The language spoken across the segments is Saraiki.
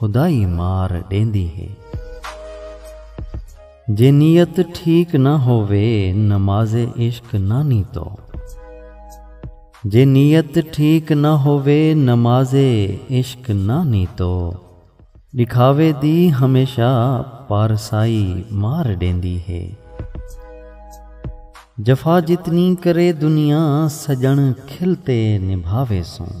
خدا ای مار ݙیندی ہے۔ جے نیت ٹھیک نہ ہووے نماز عشق نانی تو۔ جے نیت ٹھیک نہ ہووے نماز عشق نانی تو۔ ݙکھاوے دی ہمیشہ پارسائی مار ݙیندی ہے۔ جفا جتنی کرے دنیا سڄݨ کھل تے نبھاوے سوں۔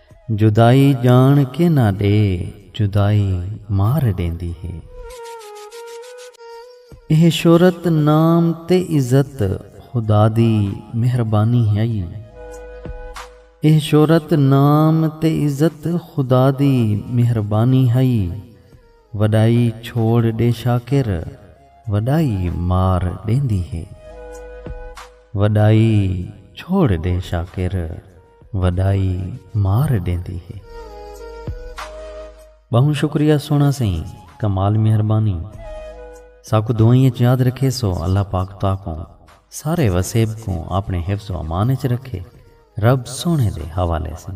جدائی ڄاݨ کے نہ ݙے جدائی مار ݙیندی ہے۔ ایہ شہرت نام تے عزت خدا دی مہربانی ہئی۔ وݙائی چھوڑ ݙے شاکر وݙائی مار ݙیندی ہے۔ وڈائی مار ڈیندی ہے۔ بہوں شکریہ سونا سئیں کمال مہربانی ساکوں دعائیں اچ یاد رکھے سو اللہ پاک تاکوں سارے وسیب کوں اپنے حفظ و امان اچ رکھے رب سونے دے حوالے سن۔